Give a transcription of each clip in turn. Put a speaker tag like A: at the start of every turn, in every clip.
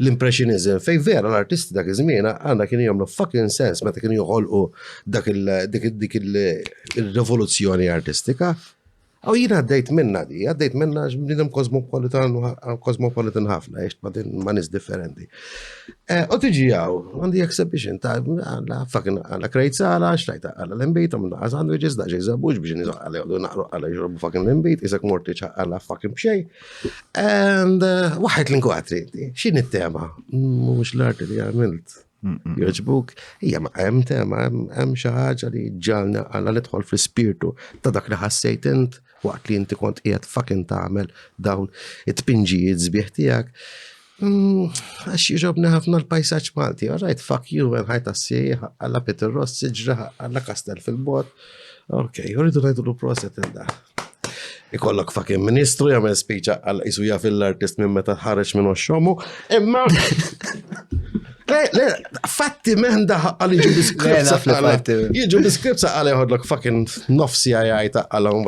A: l-Impressionizm, fejn vera l-artisti dak iż-żmien għandha kienu jagħmlu fucking sens meta kienu joħolqu dak dik il-rivoluzzjoni artistika. Aw jien għaddejt minna di, għaddejt minna għax bnidem kosmopolitan ħafna, għax ma' nis differenti. Eh, u tiġi għaw, għandi exhibition ta' għalla fucking għalla krejt sala, xlajta għalla l-imbit, għamlu għalla sandwiches, daġi zabux biex nizaq għalla għallu naqru għalla jġorbu fucking l-imbit, isak mortiċ għalla fucking bxej. And uh, waħed l-inkwatri, xin it-tema? Mux l-arti li għamilt. Joġbuk, hija ma hemm tema, hemm xi ħaġa li ġalna għalla nidħol fl-ispirtu ta' dak li ħassejt int waqt li inti kont qiegħed fucking tagħmel dawn it-tpinġijiet sbieħ tiegħek. Mm, għax jġobni ħafna l-pajsaċ Malti, għarajt, fuck you, għen ħajta s-sieħ, għalla Peter Ross, siġra, għalla Kastel fil-bot. Ok, juridu għajdu l proset il-da. Ikollok fucking ministru jgħamil speċa għal isu jaf l-artist minn meta ħareġ minn xomu. Imma. Fatti meħnda għal iġu biskripsa għal. Iġu biskripsa għal jħodlok fucking nofsi għajta għal.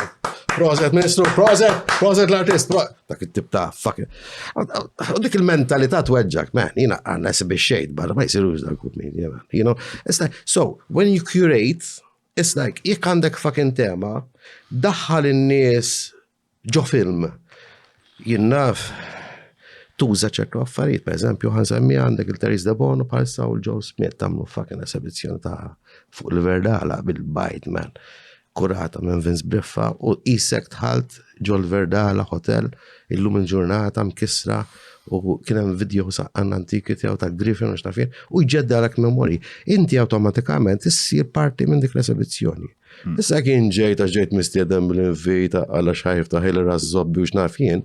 A: Proset, ministru, proset, proset l-artist, proset. dak it-tip ta' fucking. U dik il-mentalità tweġġak, man, jina għanna si biex xejt barra ma jisirux dal kup min, you know. It's like, so, when you curate, it's like, jek għandek fucking tema, daħħal in-nies ġo film, jinnaf, tuża ċertu affarijiet, per eżempju, għan semmi għandek il-Teris de Bono parsa u l-Joe Smith tamlu fucking esibizzjoni ta' fuq il-verdala bil-bajt, man. kurata minn Vince Briffa u isek tħalt ġol Verdala Hotel illum il-ġurnata mkissra u kien hemm video saqqan antiki tiegħu ta' Griffin u xtafien u jġeddalek memori. Inti awtomatikament issir parti minn dik l-esibizzjoni. Hmm. Issa kien ġejt għax ġejt mistiedem l-invita għal xajf ta' ħil razzobbi u xnafien,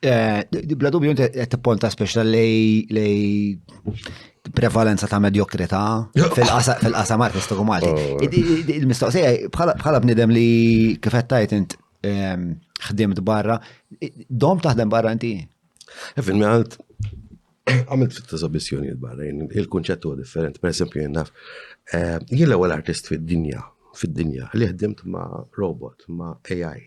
A: Eh, bla dubju inti qed tipponta speċta lej lej prevalenza ta' medjokrità fil-qasam artistiku Malti. Oh. Il-mistoqsija bħala bnidem li kif qed tajt int ehm, ħdimt barra, dom taħdem barra inti? Eh, Fil għalt għamilt fit eżabizzjoni barra, il-kunċett huwa differenti, per esempio jien naf, eh, jien l-ewwel artist fid-dinja, fid-dinja, li ħdimt ma' robot, ma' AI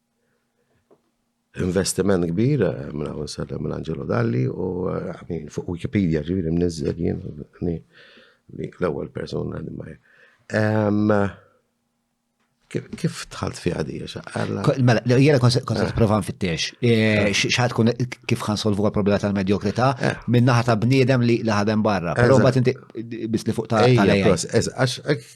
A: Investiment kbir, minn hawn sellem minn Angelo Dalli u għamin fuq Wikipedia ġiviri mnizzel jien l-ewwel persuna li ma Kif tħalt fi għadija xaqqalla? Mela, jena konset provan fit-tiex. Eh. Xaħat kun kif għan solvu għal-problema tal-medjokrita eh. minnaħat ta' bniedem li ħadem barra. Pero bat inti bis li fuq ta' għalija. Għax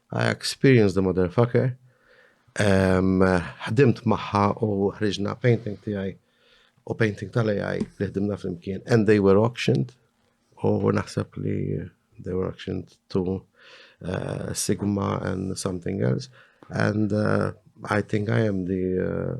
A: I experienced the motherfucker. Ħdimt maħħa u ħriġna painting tiegħi u painting tal-AI li ħdimna flimkien and they were auctioned u naħseb li they were auctioned to uh, Sigma and something else and uh, I think I am the uh,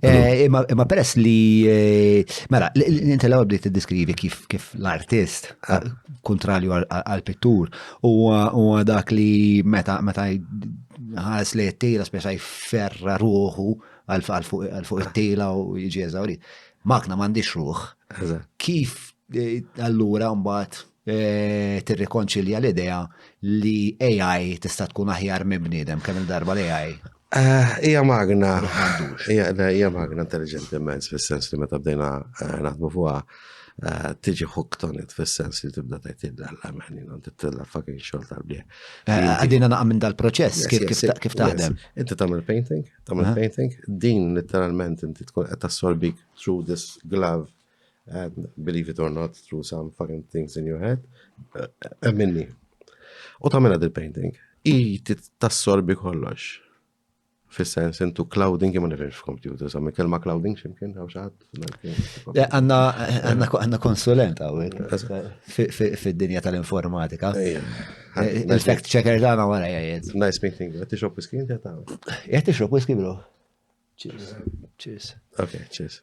A: Eh, imma peress li, eh, mela, inti l-ewwel bdiet tiddiskrivi kif kif l-artist eh, kontrarju għal-pittur huwa dak li meta meta ħares li t-tila speċa jferra ruħu għal fuq it-tila u jiġi eżawri. Makna m'għandix ruħ. Kif allura mbagħad tirrikonċilja l-idea li AI tista' tkun aħjar minn bniedem kemm il-darba li AI. Hija magna. Hija magna intelligenti immens fis-sens li meta bdejna naħdmu fuqha tiġi hooked on it fis-sens li tibda tgħid illa l-għamel, jina titilla fucking xogħol tal-bieħ. Għadina naqam minn dal-proċess, kif taħdem? Inti tagħmel painting, tagħmel painting, din literalment inti tkun qed tassorbik through this glove And believe it or not, through some fucking things in your head, emminni. U tamela dil-painting. I tassorbi kollox. Fis-sens intu clouding jimma nifirx f'kompjuter, sa' minn kelma clouding ximkien għaw xaħat. Għanna konsulent għawek fid-dinja tal-informatika. Il-fact checker dana għara jgħajed. Nice meeting, għetti xop whisky inti għataw. Għetti xop whisky bro. Cheers. Cheers. Ok, cheers.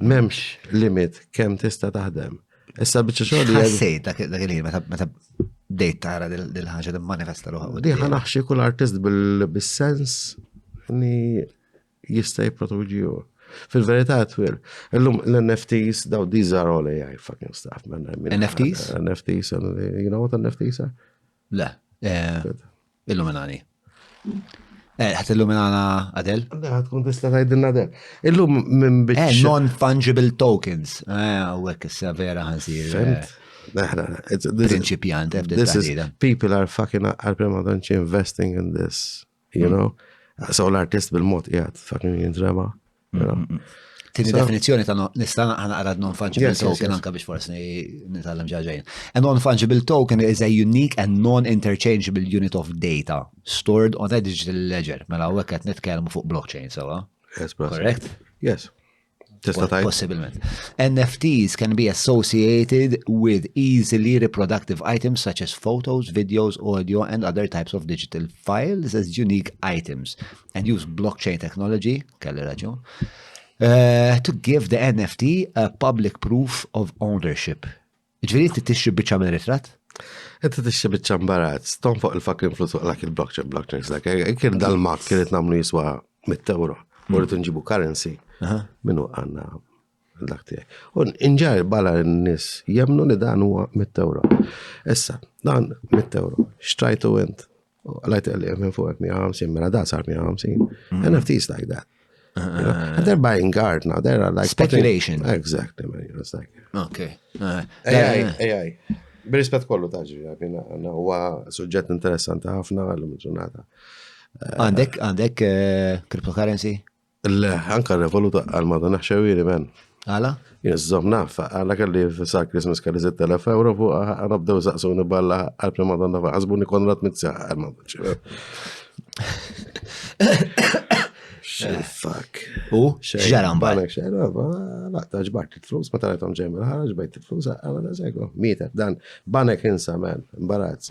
A: M'hemmx limit kemm tista' taħdem. Issa biċċa xogħol. li Ħassejt dak dak il-ħin meta meta bdejt tara dil- dil-ħaġa timmanifesta ruħha. u Diħa naħxi kull artist bil- bis-sens li jista' jipproduċi hu. Fil-verità twil, illum l-NFTs daw these are all AI fucking stuff. man. I mean, NFTs? NFTs, and you know what NFTs are? Le. eh, Illuminani. Eh, ħat illuminana Adel? Ħat kun tista tajdilna Adel. Illum minn biex. Eh, non-fungible tokens. Eh, għek issa vera ħanżir. Eh, Principiant, This is, people are fucking għal-prema donċi investing in this, you mm. know? So l-artist bil-mod jgħat, fucking jintrema. Tini definizjoni ta' nista' naqra non-fungible token anka biex forsi nitgħallem ġaġajn. A non-fungible token is a unique and non-interchangeable unit of data stored on a digital ledger. Mela u qed nitkellmu fuq blockchain sewa. Correct? Yes. Tista' tajt. Possibilment. NFTs can be associated with easily reproductive items such as photos, videos, audio and other types of digital files as unique items. and use blockchain technology, kelli raġun, uh, to give the NFT a public proof of ownership. Ġviri ti tixri bieċa minn ritrat? Inti tixri bieċa mbarat, stom fuq il-fucking flus fuq lak il-blockchain, blockchain, like, eh, kien dal-mak kienet namlu jiswa mit-tewro, morritu nġibu currency, minnu għanna dak tiegħek. U inġar bala n-nies jemnu li dan huwa mit euro. Issa, dan mit euro, xtrajtu int, lajt li minn fuq 150, mela da sar 150. Mm. And if these like that. Uh, they're buying art now, they're like... Speculation. Putting, exactly, man, it's like... Okay. Uh, AI, uh, AI. Birispet kollu taġi, għabina, għanna, huwa suġġett interessanti ħafna għallum ġurnata. Għandek, għandek eh, cryptocurrency? Le, anka revolut għal ma dan xewiri men. Għala? Jizzom naf, għala kalli sa' Christmas kalli 6000 euro fuq għana bdew saqsuni balla għal prima donna fa' għazbuni konrat mitza għal ma dan xewiri. Fuck. U? Xġara mbagħad. Xġara, laqta ġbart il-flus, ma tarajthom ġejm il-ħara, ġbajt il-flus, għala da' zego. Mietet, dan, Banek insa man, imbarazz.